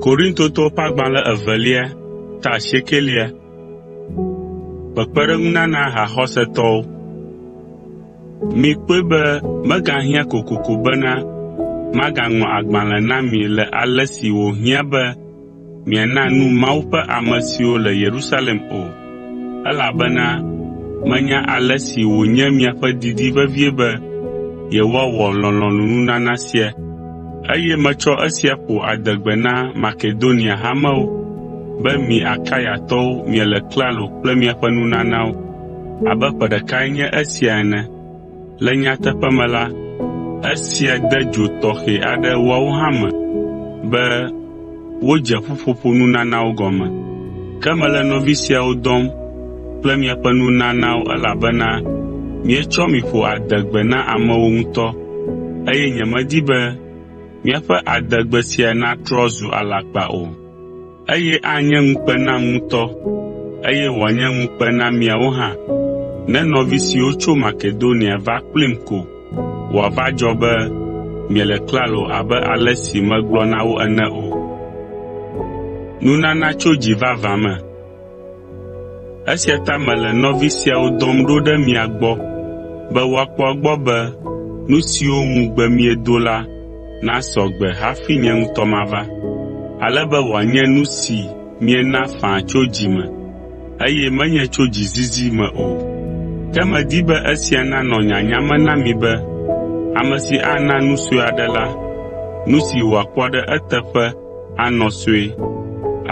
Korintotɔwo ƒe agbalẽ evelia Kpekpeɖeŋunana haxɔsetɔwo Mikpɔe be megahiã kokoko bena magaŋlɔ agbalẽ na mi le ale si wòhiã be miana nu Mawu ƒe ame siwo le Yerusalem o, elabena menya ale si wònye miaƒe didi vevie be yewoawɔ lɔlɔ̃nunana sia. Eye metsɔ esia ƒo adegbe na Makedonia hamewo be mi Akayatɔwo miele klalo kple miaƒe nunanawo abe ƒe ɖekae nye esia ene. Le nyateƒe me la, esia de dzo tɔxɛ aɖe woawo hã me be wodze ƒuƒoƒo nunanawo gɔme. Ke mele nɔvi siawo dɔm kple miaƒe nunanawo elabena mietsɔ mi ƒo adegbe na amewo ŋutɔ, eye nyemedi be míaƒe adegbe sia natrɔ zu alakpa o. Eye anye ŋukpe nam ŋutɔ, eye wòanye ŋukpe na miawo hã, ne nɔvi siwo tso Makedonia va kplim ko wòava dzɔ be miele klalo abe ale si megblɔ na wo ene o. Esia ta mele nɔvi siawo dɔm ɖo ɖe mia gbɔ be woakpɔ egbɔ be nu siwo ŋugbe miedo la nasɔ gbe hafi nye ŋutɔ mava, ale be wòanye nu si miena faa tso dzi me, eye menye tso dzizizi me o. Ke medi be esia nanɔ nyanya me na mi be ame si ana nu sue aɖe la, nu si wòakpɔ ɖe eteƒe anɔ sue.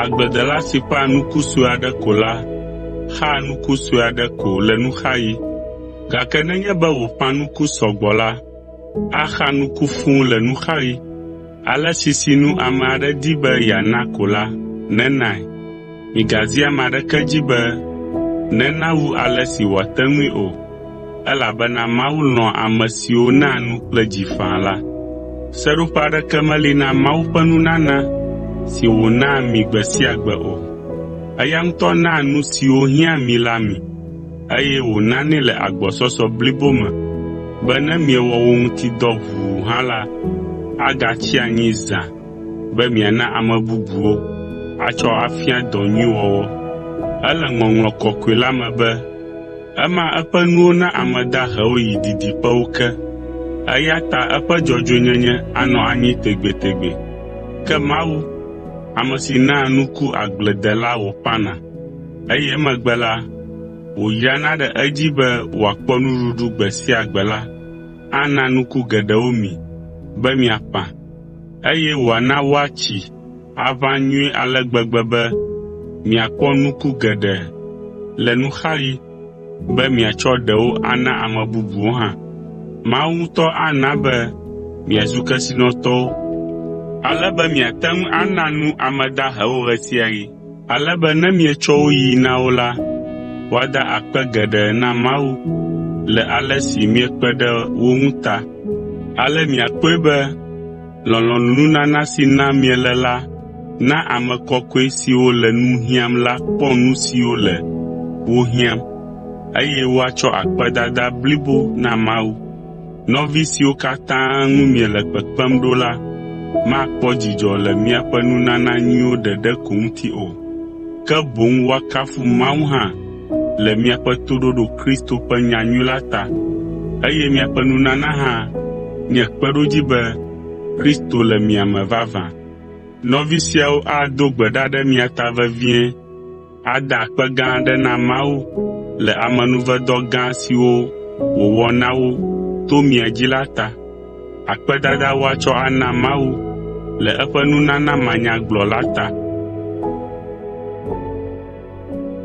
Agbledela si ƒãa nuku sue aɖe ko la xaa nuku sue aɖe ko le nuxaɣi, gake nenye be wòƒã nuku sɔ gbɔ la, axa nuku fũu le nuxaɣi. Ale si sinu ame aɖe di be yeana ko la, nenae. Migazi ame aɖeke dzi be nena wu ale si wòate ŋui o, elabena Mawu lɔ̃a ame siwo naa nu kple dzi faa la. Seɖoƒe aɖeke meli na Mawu ƒe nunana si wònaa mi gbe sia gbe o. Eya ŋutɔ naa nu siwo hiã mi la mi, eye wònanɛ le agbɔsɔsɔ blibo me be ne miewɔ wo ŋuti dɔ ʋuu hã la, agatsi anyi zã be miana ame bubuwo atsɔ afia dɔ nyui wɔwɔ. Ele Ŋɔŋlɔ Kɔkɔe la me be, “Ema eƒe nuwo na ame dahewo yi didiƒewo ke, eya ta eƒe dzɔdzɔenyenye anɔ anyi tegbetegbe.” Ke Mawu, ame si naa nuku agbledela wòƒãna, eye emegbe la, wòyrana ɖe edzi be wòakpɔ nuɖuɖu gbe sia gbe la, ana nuku geɖewo mi be miaƒã. eye wòana woatsi aʋã nyuie ale gbegbe be miakpɔ nuku geɖe le nuxaɣi be miatsɔ ɖewo ana ame bubuwo hã. Mawu ŋutɔ ana be miazu kesinɔtɔwo ale be miate ŋu ana nu ame dahewo ɣe sia ɣi. Ale be ne mietsɔ wo yi na wo la, woada akpe geɖe na Mawu le ale si miekpe ɖe wo ŋu ta. Ale miakpɔe be lɔlɔ̃nunana si nam miele la na ame kɔkɔe siwo le nu hiãm la kpɔ nu siwo le wo hiãm, eye woatsɔ akpedada blibo na Mawu. Nɔvi siwo katã ŋu miele kpekpem ɖo la makpɔ dzidzɔ le miaƒe nunana nyuiwo ɖeɖe ko ŋuti o, ke boŋ woakafu Mawu hã le miaƒe toɖoɖo Kristo ƒe nyanyui la ta. Eye miaƒe nunana hã nye kpeɖodzi be Kristo le mia me vavã. Nɔvi siawo ado gbe ɖa ɖe mia ta vevie. Ada akpe gã aɖe na Mawu le amenuvedɔ gã siwo wòwɔ na wo to mia dzi la ta. Akpedada woatsɔ ana Mawu le eƒe nunana manyagblɔ la ta.